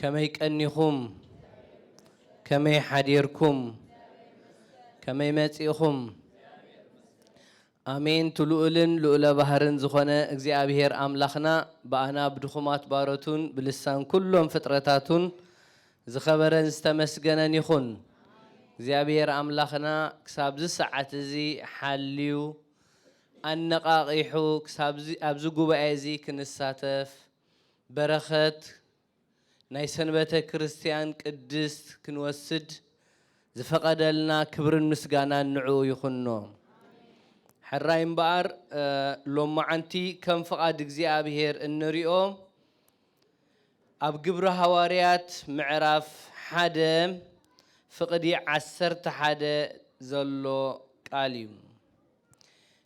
ከመይ ቀኒኹም ከመይ ሓዲርኩም ከመይ መጺእኹም ኣሜን ትሉኡልን ልኡለ ባህርን ዝኾነ እግዚኣብሔር ኣምላኽና ብኣና ብድኹማት ባሮቱን ብልሳን ኩሎም ፍጥረታቱን ዝኸበረን ዝተመስገነን ይኹን እግዚኣብሔር ኣምላኽና ክሳብዚ ሰዓት እዚ ሓልዩ ኣነቓቒሑ ክሳብዚ ኣብዚ ጉባኤ እዚ ክንሳተፍ በረኸት ናይ ሰንበተ ክርስትያን ቅድስት ክንወስድ ዝፈቐደልና ክብርን ምስጋናን ንዕኡ ይኹኖ። ሕራይ እምበኣር ሎማዓንቲ ከም ፍቓድ እግዚኣብሔር እንሪኦ ኣብ ግብሪ ሃዋርያት ምዕራፍ ሓደ ፍቕዲ ዓሰርተ ሓደ ዘሎ ቃል እዩ።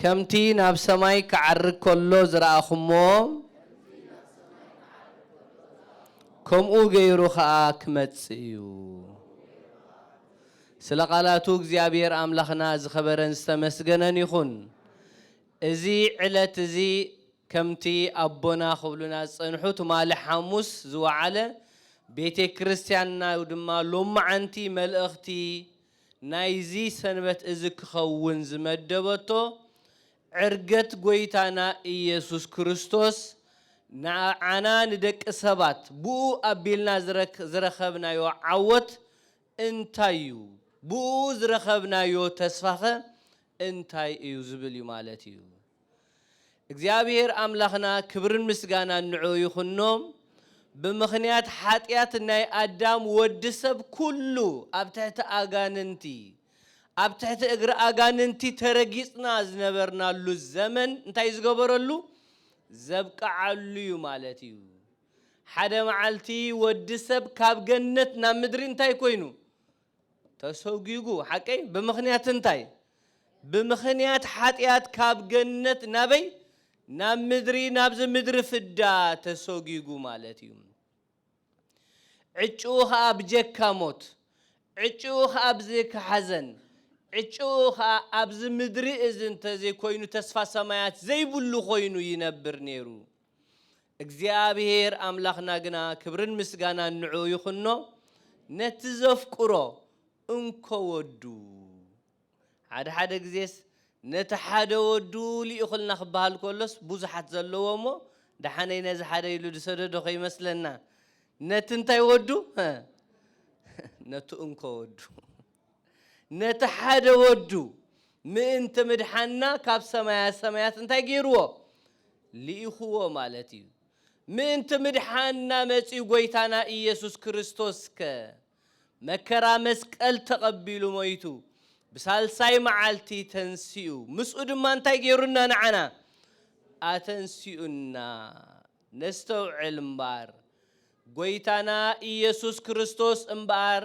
ከምቲ ናብ ሰማይ ኪዓርግ ከሎ ዝረኣኹምዎ፣ ከምኡ ገይሩ ኸኣ ኪመጽእ እዩ። ስለ ቓላቱ እግዚኣብሄር ኣምላኽና ዝኸበረን ዝተመስገነን ይኹን። እዚ ዕለት እዚ ከምቲ ኣቦና ክብሉና ዝጸንሑ ትማሊ ሓሙስ ዝወዓለ ቤቴክርስትያንና ድማ ሎምዓንቲ መልእኽቲ፣ ናይዚ ሰንበት እዚ ክኸውን ዝመደበቶ ዕርገት ጎይታና ኢየሱስ ክርስቶስ ንዓና ንደቂ ሰባት ብእኡ ኣቢልና ዝረኸብናዮ ዓወት እንታይ እዩ ብእኡ ዝረኸብናዮ ተስፋኸ እንታይ እዩ ዝብል እዩ ማለት እዩ። እግዚኣብሄር ኣምላኽና ክብርን ምስጋናን ንዕኡ ይኹኖ ብምኽንያት ሓጢኣት ናይ ኣዳም ወዲ ሰብ ኩሉ ኣብ ትሕቲ ኣጋንንቲ ኣብ ትሕቲ እግሪ ኣጋንንቲ ተረጊጽና ዝነበርናሉ ዘመን እንታይ ዝገበረሉ ዘብቅዓሉ እዩ ማለት እዩ ሓደ መዓልቲ ወዲ ሰብ ካብ ገነት ናብ ምድሪ እንታይ ኮይኑ ተሰጒጉ፣ ሓቀይ? ብምኽንያት እንታይ? ብምኽንያት ሓጢኣት ካብ ገነት ናበይ? ናብ ምድሪ፣ ናብዚ ምድሪ ፍዳ ተሰጒጉ ማለት እዩ። ዕጭኡ ኸኣ ብጀካ ሞት፣ ዕጭኡ ኸኣ ብዘካ ሓዘን፣ ዕጭኡ ኸኣ ኣብዚ ምድሪ እዚ እንተዘይኮይኑ ተስፋ ሰማያት ዘይብሉ ኮይኑ ይነብር ነይሩ። እግዚኣብሄር ኣምላኽና ግና ክብርን ምስጋናን ንዕኡ ይኹኖ ነቲ ዘፍቅሮ እንኮ ወዱ ሓደ ሓደ ግዜስ ነቲ ሓደ ወዱ ልኢኹልና ክበሃል ከሎስ ብዙሓት ዘለዎ እሞ ደሓነይ ነዚ ሓደ ኢሉ ዝሰደዶ ከይመስለና ነቲ እንታይ ወዱ ነቲ እንኮ ወዱ ነቲ ሓደ ወዱ ምእንቲ ምድሓንና ካብ ሰማያ ሰማያት እንታይ ገይርዎ? ልኢኽዎ ማለት እዩ። ምእንቲ ምድሓንና መጺኡ ጎይታና ኢየሱስ ክርስቶስከ መከራ መስቀል ተቐቢሉ ሞይቱ ብሳልሳይ መዓልቲ ተንሲኡ ምስኡ ድማ እንታይ ገይሩና ንዓና? ኣተንሲኡና። ነስተውዕል እምበኣር ጎይታና ኢየሱስ ክርስቶስ እምበኣር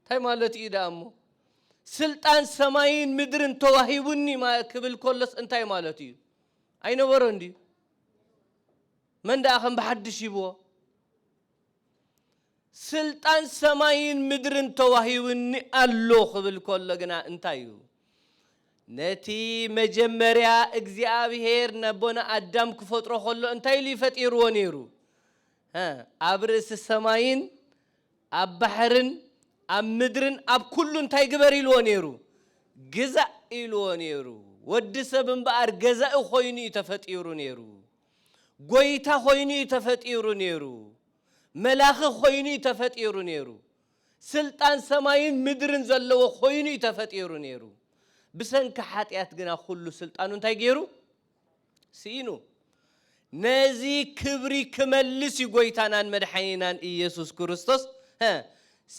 እንታይ ማለቱ እዩ ደኣ እሞ? ስልጣን ሰማይን ምድርን ተዋሂቡኒ ክብል ከሎስ እንታይ ማለቱ እዩ? ኣይነበሮን ድዩ? መን ደኣ ከም ብሓድሽ ሂብዎ? ስልጣን ሰማይን ምድርን ተዋሂቡኒ ኣሎ ክብል ከሎ ግና እንታይ እዩ? ነቲ መጀመርያ እግዚኣብሄር ነቦና ኣዳም ክፈጥሮ ከሎ እንታይ ኢሉ እዩ ፈጢርዎ ነይሩ? ኣብ ርእሲ ሰማይን ኣብ ባሕርን ኣብ ምድርን ኣብ ኵሉ እንታይ ግበር ኢልዎ ነይሩ? ግዛእ ኢልዎ ነይሩ። ወዲ ሰብ እምበኣር ገዛኢ ዀይኑ እዩ ተፈጢሩ ነይሩ። ጐይታ ዀይኑ እዩ ተፈጢሩ ነይሩ። መላኺ ዀይኑ እዩ ተፈጢሩ ነይሩ። ስልጣን ሰማይን ምድርን ዘለዎ ዀይኑ እዩ ተፈጢሩ ነይሩ። ብሰንኪ ሓጢኣት ግና ኵሉ ስልጣኑ እንታይ ገይሩ? ስኢኑ ነዚ ክብሪ ክመልስ እዩ ጎይታናን መድሓኒናን እየሱስ ክርስቶስ ሀ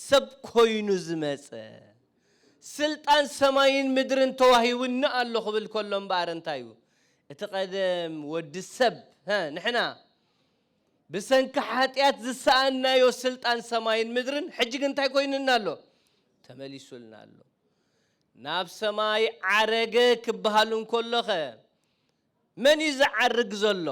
ሰብ ኮይኑ ዝመጸ ስልጣን ሰማይን ምድርን ተዋሂቡኒ ኣሎ ክብል ከሎ እምበኣር እንታይ እዩ እቲ ቀደም ወዲ ሰብ ሀ ንሕና ብሰንኪ ሓጢኣት ዝሰኣናዮ ስልጣን ሰማይን ምድርን ሕጂ ግን እንታይ ኮይኑና ኣሎ ተመሊሱልና ኣሎ ናብ ሰማይ ዓረገ ክበሃል እንከሎኸ መን እዩ ዝዓርግ ዘሎ?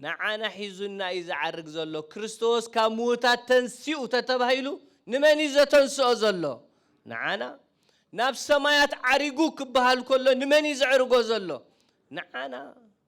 ንዓና ሒዙና እዩ ዝዓርግ ዘሎ። ክርስቶስ ካብ ምዉታት ተንሲኡ ተተባሂሉ ንመን እዩ ዘተንስኦ ዘሎ? ንዓና። ናብ ሰማያት ዓሪጉ ክበሃል ከሎ ንመን እዩ ዘዕርጎ ዘሎ? ንዓና።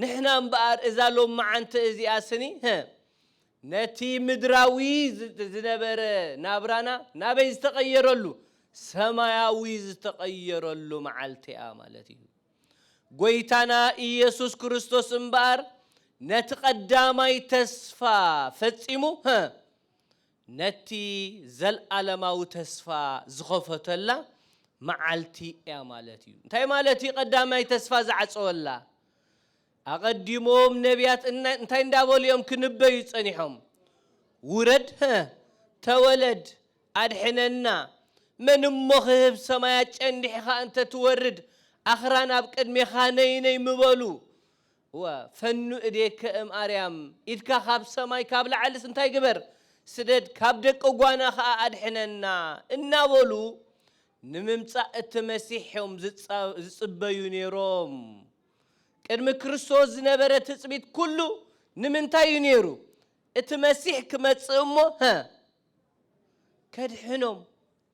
ንሕና እምበኣር እዛ ሎምዓንቲ እዚኣ ስኒ ህእ ነቲ ምድራዊ ዝነበረ ናብራና ናበይ ዝተቐየረሉ ሰማያዊ ዝተቐየረሉ መዓልቲ'ያ ማለት እዩ። ጎይታና ኢየሱስ ክርስቶስ እምበኣር ነቲ ቀዳማይ ተስፋ ፈጺሙ ህእ ነቲ ዘልኣለማዊ ተስፋ ዝኸፈተላ መዓልቲ እያ ማለት እዩ። እንታይ ማለት እዩ ቀዳማይ ተስፋ ዝዓጸወላ? ኣቐዲሞም ነብያት እንታይ እንዳበሉ እዮም ክንበዩ ጸኒሖም? ውረድ ህ ተወለድ ኣድሕነና መን እሞ ክህብ ሰማያት ጨንዲሕኻ እንተትወርድ ኣኽራን ኣብ ቅድሜኻ ነይ ነይ ምበሉ እወ ፈኑ እዴከ እም ኣርያም ኢድካ ካብ ሰማይ ካብ ላዕልስ እንታይ ግበር ስደድ ካብ ደቂ ጓና ከኣ ኣድሕነና እናበሉ ንምምጻእ እቲ መሲሕ እዮም ዝጽበዩ ኔሮም ቅድሚ ክርስቶስ ዝነበረ ትጽቢት ኩሉ ንምንታይ እዩ ኔሩ እቲ መሲሕ ክመጽእ እሞ ሀ ከድሕኖም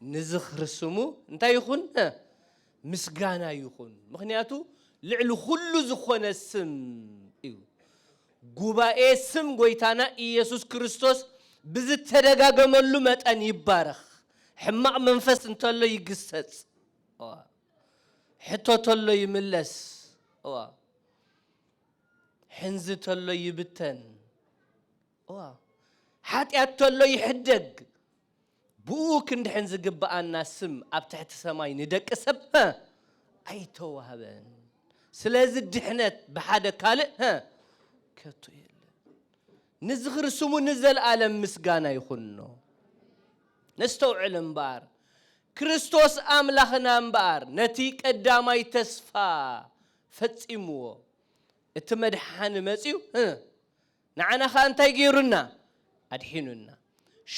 ንዝኽሪ ስሙ እንታይ ይኹን? ምስጋና ይኹን፣ ምኽንያቱ ልዕሊ ዅሉ ዝዀነ ስም እዩ። ጉባኤ ስም ጐይታና ኢየሱስ ክርስቶስ ብዝተደጋገመሉ መጠን ይባረኽ። ሕማቕ መንፈስ እንተሎ ይግሰጽ፣ ሕቶ ተሎ ይምለስ፣ ሕንዚ ተሎ ይብተን፣ ሓጢኣት ተሎ ይሕደግ፣ ብእኡ ክንድሕን ዝግብኣና ስም ኣብ ትሕቲ ሰማይ ንደቂ ሰብ ሀ ኣይተዋህበን፣ ስለዚ ድሕነት ብሓደ ካልእ ሀ ከቶ የለን። ንዝኽሪ ስሙ ንዘልኣለም ምስጋና ይኹኖ። ነስተውዕል እምበኣር፣ ክርስቶስ ኣምላኽና እምበኣር ነቲ ቀዳማይ ተስፋ ፈጺምዎ፣ እቲ መድሓኒ መጺኡ ሀ ንዓና ኸኣ እንታይ ገይሩና? ኣድሒኑና።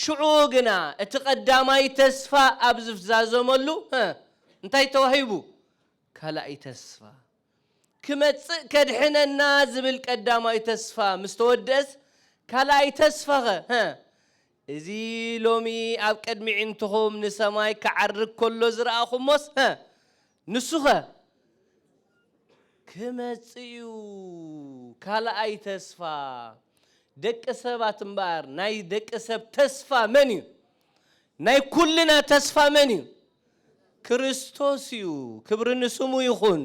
ሽዑ ግና እቲ ቐዳማይ ተስፋ ኣብ ዝፍዛዘመሉ፣ እንታይ ተዋሂቡ? ካልኣይ ተስፋ። ክመጽእ ከድሕነና ዝብል ቀዳማይ ተስፋ ምስ ተወድእስ፣ ካልኣይ ተስፋኸ? እዚ ሎሚ ኣብ ቅድሚ ዒንትኹም ንሰማይ ክዓርግ ከሎ ዝረኣኹሞስ፣ ንሱኸ ክመጽእ'ዩ ካልኣይ ተስፋ ደቂ ሰባት እምበኣር ናይ ደቂ ሰብ ተስፋ መን እዩ ናይ ኩልና ተስፋ መን እዩ ክርስቶስ እዩ ክብሪ ንስሙ ይኹን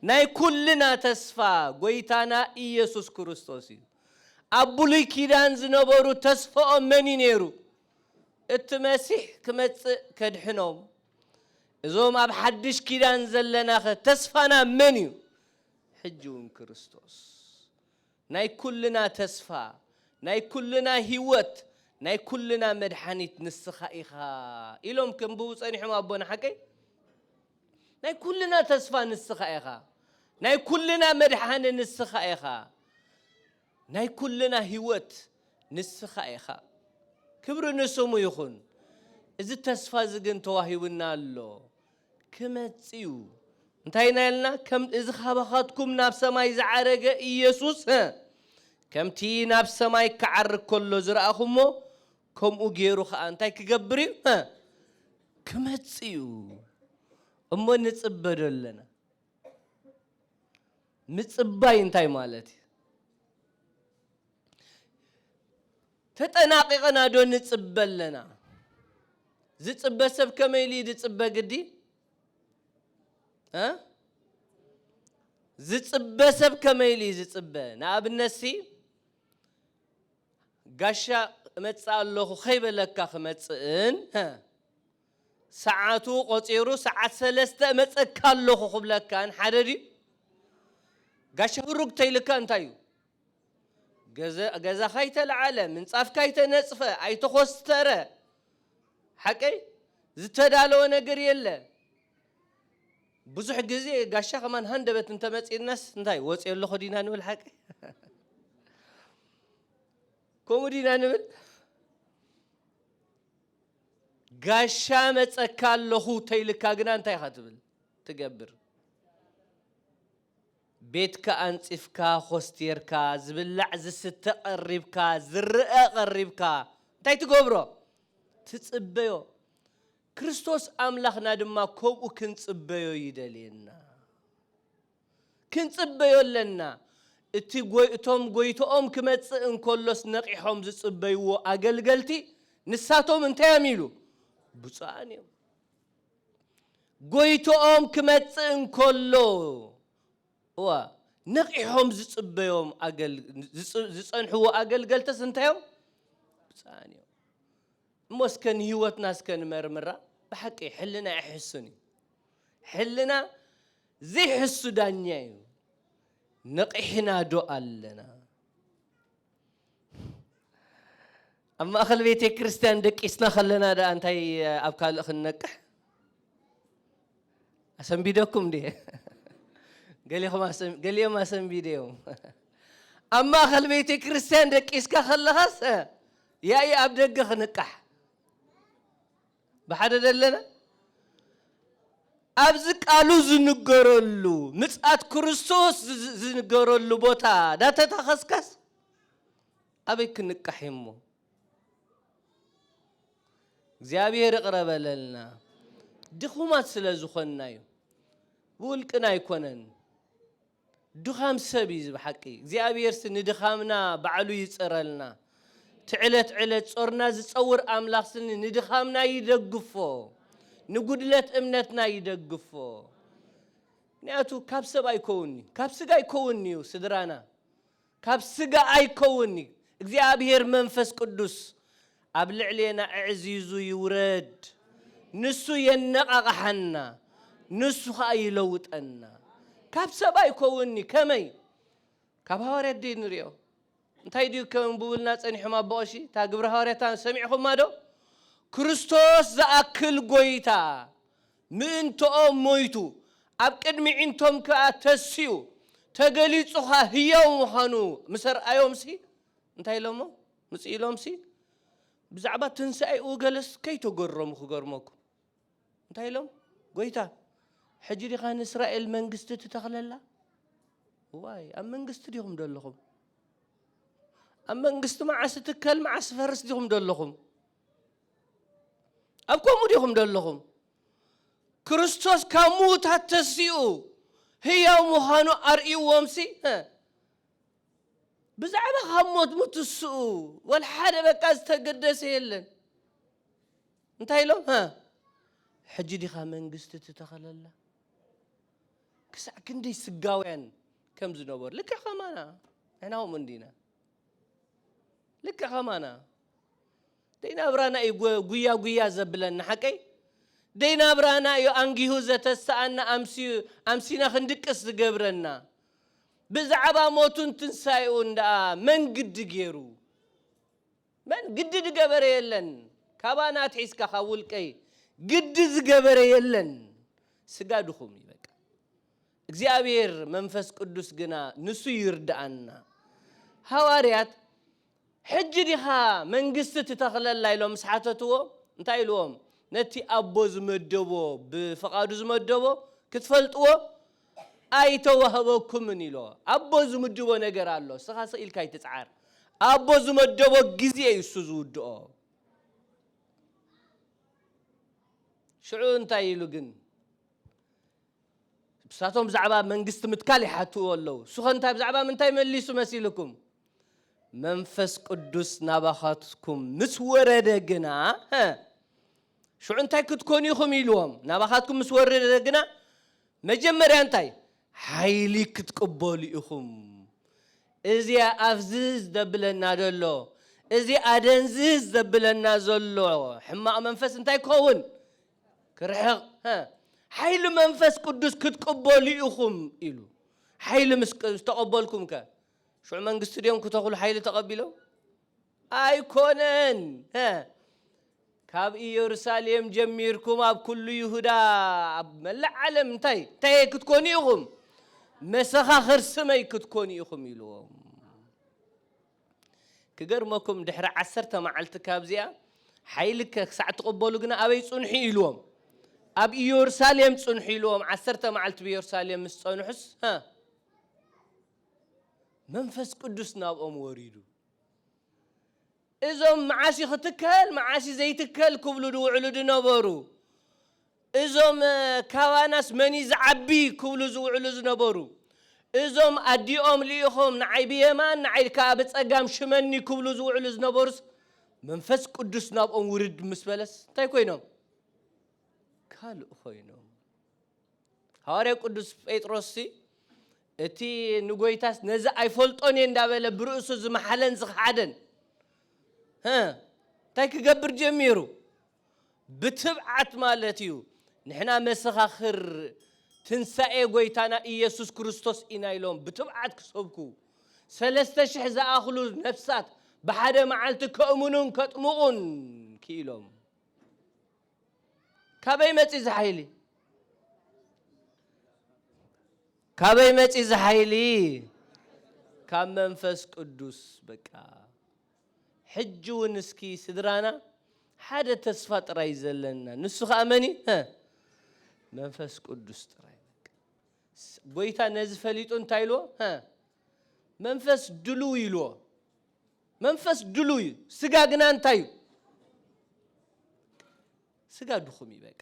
ናይ ኩልና ተስፋ ጎይታና ኢየሱስ ክርስቶስ እዩ ኣብ ብሉይ ኪዳን ዝነበሩ ተስፋኦም መን እዩ ነይሩ እቲ መሲሕ ክመጽእ ከድሕኖም። እዞም ኣብ ሓድሽ ኪዳን ዘለናኸ ተስፋና መን እዩ? ሕጂ እውን ክርስቶስ። ናይ ኩልና ተስፋ፣ ናይ ኩልና ህይወት፣ ናይ ኩልና መድሓኒት ንስኻ ኢኻ ኢሎም ከንብቡ ጸኒሖም ኣቦና ሓቀይ። ናይ ኩልና ተስፋ ንስኻ ኢኻ፣ ናይ ኩልና መድሓኒ ንስኻ ኢኻ። ናይ ኩልና ህይወት ንስኻ ኢኻ። ክብሪ ንስሙ ይኹን። እዚ ተስፋ እዚ ግን ተዋሂቡና ኣሎ። ክመጽእ እዩ። እንታይ ኢና ኢልና? ከም እዚ ካባኻትኩም ናብ ሰማይ ዝዓረገ ኢየሱስ እ፣ ከምቲ ናብ ሰማይ ክዓርግ ከሎ ዝረኣኹምዎ፣ ከምኡ ገይሩ ኸኣ እንታይ ክገብር እዩ? እ፣ ክመጽእ እዩ። እሞ ንጽበ ዶ ኣለና? ምጽባይ እንታይ ማለት እዩ? ተጠናቒቕና ዶ ንጽበ ኣለና? ዝጽበ ሰብ ከመይ ኢሉ እዩ ዝጽበ ግዲ? ዝጽበ ሰብ ከመይ ኢሉ እዩ ዝጽበ? ንኣብነትሲ ጋሻ እመጽእ ኣለኹ ከይበለካ ክመጽእን ሰዓቱ ቆጺሩ ሰዓት ሰለስተ እመጸካ ኣለኩ ክብለካን ሓደ ድዩ ጋሻ ሁሩግ ተይልካ እንታይ እዩ ገዛኻ ኣይተለዓለ ምንጻፍካ ኣይተነጽፈ ኣይተኾስተረ ሓቀይ ዝተዳለወ ነገር የለ ብዙሕ ግዜ ጋሻ ከማን ሃንደበት እንተመጺእናስ እንታይ ወጽኦ ኣለኹ ዲና ንብል ሓቀይ ከምኡ ዲና ንብል ጋሻ መጸካ ኣለኹ ተይልካ ግና እንታይ ኢኻ ትብል ትገብር? ቤትካ ኣንጽፍካ ኮስትየርካ ዝብላዕ ዝስተ ቀሪብካ ዝረኣ ቀሪብካ እንታይ ትገብሮ? ትጽበዮ። ክርስቶስ ኣምላኽና ድማ ከምኡ ክንጽበዮ ይደልየና። ክንጽበዮ ኣለና። እቲ እቶም ጎይቶኦም ክመጽእ እንከሎስ ነቒሖም ዝጽበይዎ ኣገልገልቲ ንሳቶም እንታይ እዮም ኢሉ? ብጹኣን እዮም። ጎይቶኦም ክመጽእ እንከሎ እዋ ነቒሖም ዝጽበዮም ዝጸንሕዎ ኣገልገልትስ እንታይ እዮም? ብጹኣን እዮም። እሞ እስከ ንህይወትና እስከ ንመርምራ። ብሓቂ ሕልና የሕስን እዩ። ሕልና ዘይሕሱ ዳኛ እዩ ነቒሕና ዶ ኣለና? ኣብ ማእኸል ቤተ ክርስቲያን ደቂስና ከለና ደኣ እንታይ ኣብ ካልእ ክንነቅሕ ኣሰንቢደኩም እንዴ? ገሊኦም ኣሰንቢደ እዮም። ኣብ ማእኸል ቤተ ክርስቲያን ደቂስካ ከለኻስ ያኢ ኣብ ደገ ክንቃሕ ብሓደ ደለና ኣብዚ ቃሉ ዝንገረሉ ምጽኣት ክርስቶስ ዝንገረሉ ቦታ ዳተታኸስካስ ኣበይ ክንቃሕ እሞ እግዚኣብሔር ይቕረበለልና ድኹማት ስለ ዝኾንና እዩ ብውልቅና ኣይኮነን ድኻም ሰብ እዩ እዚ ብሓቂ እግዚኣብሔርሲ ንድኻምና ባዕሉ ይፅረልና እቲ ዕለት ዕለት ፆርና ዝፀውር ኣምላኽ ስኒ ንድኻምና ይደግፎ ንጉድለት እምነትና ይደግፎ ምክንያቱ ካብ ሰብ ኣይኮውን እዩ ካብ ስጋ ኣይኮውን እዩ ስድራና ካብ ስጋ ኣይከውን እዩ እግዚኣብሔር መንፈስ ቅዱስ ኣብ ልዕሌና እዕዚዙ ይውረድ ንሱ የነቃቅሓና ንሱ ከኣ ይለውጠና ካብ ሰብ ኣይኮውን እዩ ከመይ ካብ ሃዋርያት ድዩ ንሪኦ እንታይ ድዩ ከንብቡልና ጸኒሖም ኣቦ ቀሺ እታ ግብረ ሃዋርያታ ሰሚዕኹማ ዶ ክርስቶስ ዝኣክል ጎይታ ምእንትኦም ሞይቱ፣ ኣብ ቅድሚ ዒንቶም ከኣ ተሲኡ፣ ተገሊጹ ከኣ ህያው ምዃኑ ምስ ኣርኣዮምሲ፣ እንታይ ኢሎሞ? ምጽእ ኢሎምሲ፣ ብዛዕባ ትንሳኤኡ ገለስ ከይተገረሙ ክገርመኩም፣ እንታይ ኢሎም? ጐይታ፣ ሕጂ ዲኻ ንእስራኤል መንግስቲ ትተኽለላ? እዋይ፣ ኣብ መንግስቲ ዲኹም ደለኹም? ኣብ መንግስቲ መዓስ እትከል መዓስ እትፈርስ ዲኹም ደለኹም? ኣብ ከምኡ ዲኹም ደለኹም? ክርስቶስ ካብ ምዉታት ተሲኡ ህያው ምዃኑ ኣርእይዎምሲ ብዛዕባ ካብ ሞት ምትስኡ ወላ ሓደ በቃ ዝተገደሰ የለን። እንታይ ኢሎም ሕጂ ዲኻ መንግስቲ ትተኸለላ? ክሳዕ ክንደይ ስጋውያን ከም ዝነበሩ ልክዕ ከማና ንሕና ከምኡ እንዲና ልክዕ ከማና ደይ ናብራና እዩ ጉያ ጉያ ዘብለና ሓቀይ ደይ ናብራና እዩ ኣንጊሁ ዘተስኣና ኣምሲና ክንድቅስ ዝገብረና ብዛዕባ ሞቱን ትንሳኤኡን ደኣ መን ግዲ ገይሩ መን ግዲ ዝገበረ የለን ካባና ኣትሒዝካ ካብ ውልቀይ ግዲ ዝገበረ የለን ስጋ ድኹም እዩ በቃ እግዚኣብሔር መንፈስ ቅዱስ ግና ንሱ ይርድኣና ሃዋርያት ሕጂ ዲኻ መንግስቲ ትተኽለላ ኢሎም ምስ ሓተትዎ እንታይ ኢልዎም ነቲ ኣቦ ዝመደቦ ብፍቓዱ ዝመደቦ ክትፈልጥዎ ኣይተዋህበኩምን ኢሎ ኣቦ ዝምድቦ ነገር ኣሎ እስኻ ስቕ ኢልካ ኣይትጽዓር ኣቦ ዝመደቦ ግዜ እዩ እሱ ዝውድኦ ሽዑ እንታይ ኢሉ ግን ንሳቶም ብዛዕባ መንግስቲ ምትካል ይሓትኡ ኣለዉ፣ እሱኸ እንታይ ብዛዕባ ምንታይ መሊሱ መሲልኩም? መንፈስ ቅዱስ ናባኻትኩም ምስ ወረደ ግና፣ ሀ፣ ሽዑ እንታይ ክትኮኑ ኢኹም ኢልዎም፣ ናባኻትኩም ምስ ወረደ ግና መጀመርያ እንታይ ሓይሊ ክትቅበሉ ኢኹም። እዚ ኣፍዝዝ ዘብለና ዘሎ እዚ ኣደንዝዝ ዘብለና ዘሎ ሕማቕ መንፈስ እንታይ ክኸውን ክርሕቕ ሓይሊ መንፈስ ቅዱስ ክትቅበሉ ኢኹም ኢሉ ሓይሊ ምስ ዝተቐበልኩም ከ ሽዑ መንግስቲ ድዮም ክተኽሉ ሓይሊ ተቐቢሎም ኣይኮነን ካብ ኢየሩሳሌም ጀሚርኩም ኣብ ኩሉ ይሁዳ ኣብ መላእ ዓለም እንታይ እንታይ ክትኮኑ ኢኹም መሰኻኽር ስመይ ክትኮኑ ኢኹም ኢልዎም ክገርመኩም ድሕሪ ዓሰርተ መዓልቲ ካብዚኣ ሓይልከ ክሳዕ ትቕበሉ ግና ኣበይ ጽንሑ ኢልዎም ኣብ ኢዮርሳሌም ጽንሑ ኢልዎም ዓሰርተ መዓልቲ ብኢዮርሳሌም ምስ ጸንሑስ መንፈስ ቅዱስ ናብኦም ወሪዱ እዞም መዓስ እዩ ክትከል መዓስ እዩ ዘይትከል ክብሉ ድውዕሉ ድነበሩ እዞም ካባናስ መን እዩ ዝዓቢ ክብሉ ዝውዕሉ ዝነበሩ እዞም ኣዲኦም ልኢኾም ንዓይ ብየማን ንዓይ ከኣ ብጸጋም ሽመኒ ክብሉ ዝውዕሉ ዝነበሩስ መንፈስ ቅዱስ ናብኦም ውርድ ምስ በለስ እንታይ ኮይኖም? ካልእ ኮይኖም። ሃዋርያ ቅዱስ ጴጥሮስሲ እቲ ንጎይታስ ነዚ ኣይፈልጦን እየ እንዳበለ ብርእሱ ዝመሓለን ዝኸሓደን እንታይ ክገብር ጀሚሩ? ብትብዓት ማለት እዩ ንሕና መሰኻኽር ትንሳኤ ጐይታና ኢየሱስ ክርስቶስ ኢና ኢሎም ብትብዓት ክሰብኩ፣ ሰለስተ ሽሕ ዝኣኽሉ ነፍሳት ብሓደ መዓልቲ ከእምኑን ከጥምቑን ክኢሎም። ካበይ መጺ እዚ ሓይሊ? ካበይ መጺ እዚ ሓይሊ? ካብ መንፈስ ቅዱስ በቃ። ሕጂ ውን እስኪ ስድራና ሓደ ተስፋ ጥራይ እዩ ዘለና ንሱ ከኣ መን እዩ ሀ መንፈስ ቅዱስ ጥራይ በቃ ጎይታ ነዚ ፈሊጡ እንታይ ኢልዎ ሀ መንፈስ ድሉው ኢልዎ መንፈስ ድሉው እዩ ስጋ ግና እንታይ እዩ ስጋ ድኹም እዩ በቃ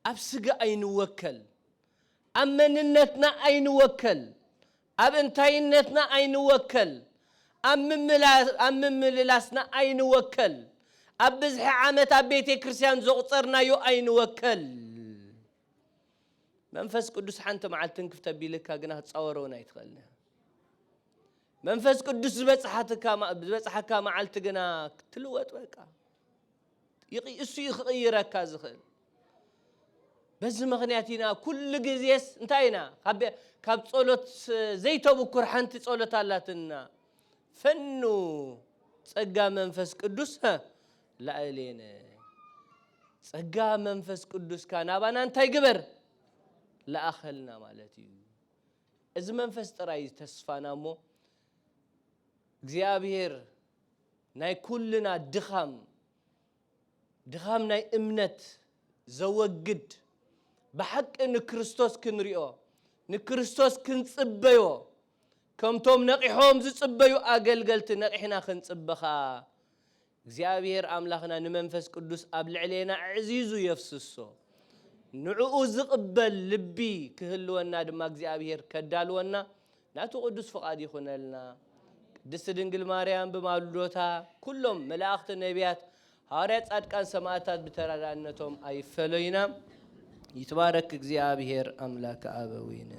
ኣብ ስጋ ኣይንወከል ኣብ መንነትና ኣይንወከል ኣብ እንታይነትና ኣይንወከል፣ ኣብ ምምልላስና ኣይንወከል፣ ኣብ ብዝሒ ዓመት ኣብ ቤቴ ክርስቲያን ዘቑጸርናዮ ኣይንወከል። መንፈስ ቅዱስ ሓንቲ መዓልቲ ትንክፍ ተቢልካ ግና ክትጻወሮ እውን ኣይትኽእልን ኢኻ። መንፈስ ቅዱስ ዝበጽሓካ መዓልቲ ግና ክትልወጥ በቃ እሱ እዩ ክቕይረካ ዝኽእል። በዚ ምክንያት ኢና ኩሉ ግዜስ እንታይ ኢና ካብ ጸሎት ዘይተብኩር ሓንቲ ጸሎት ኣላትና ፈኑ ጸጋ መንፈስ ቅዱስ ላእሌነ ጸጋ መንፈስ ቅዱስካ ናባና እንታይ ግበር ላኣኸልና ማለት እዩ እዚ መንፈስ ጥራይ ተስፋና እሞ እግዚኣብሄር ናይ ኩልና ድኻም ድኻም ናይ እምነት ዘወግድ ብሓቂ ንክርስቶስ ክንሪኦ ንክርስቶስ ክንጽበዮ ከምቶም ነቒሖም ዝጽበዩ ኣገልገልቲ ነቒሕና ክንጽበ ኸኣ እግዚኣብሄር ኣምላኽና ንመንፈስ ቅዱስ ኣብ ልዕሌና ኣዕዚዙ የፍስሶ ንዕኡ ዝቕበል ልቢ ክህልወና ድማ እግዚኣብሄር ከዳልወና ናቱ ቅዱስ ፍቃድ ይኩነልና። ቅድስት ድንግል ማርያም ብማልዶታ ኩሎም መላእክት ነብያት ሃዋርያት ጻድቃን ሰማእታት ብተራዳእነቶም ኣይፈለዩና ይትባረክ እግዚኣብሔር ኣምላከ ኣበዊነ።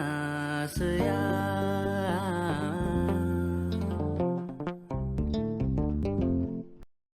ኣናስታስያ።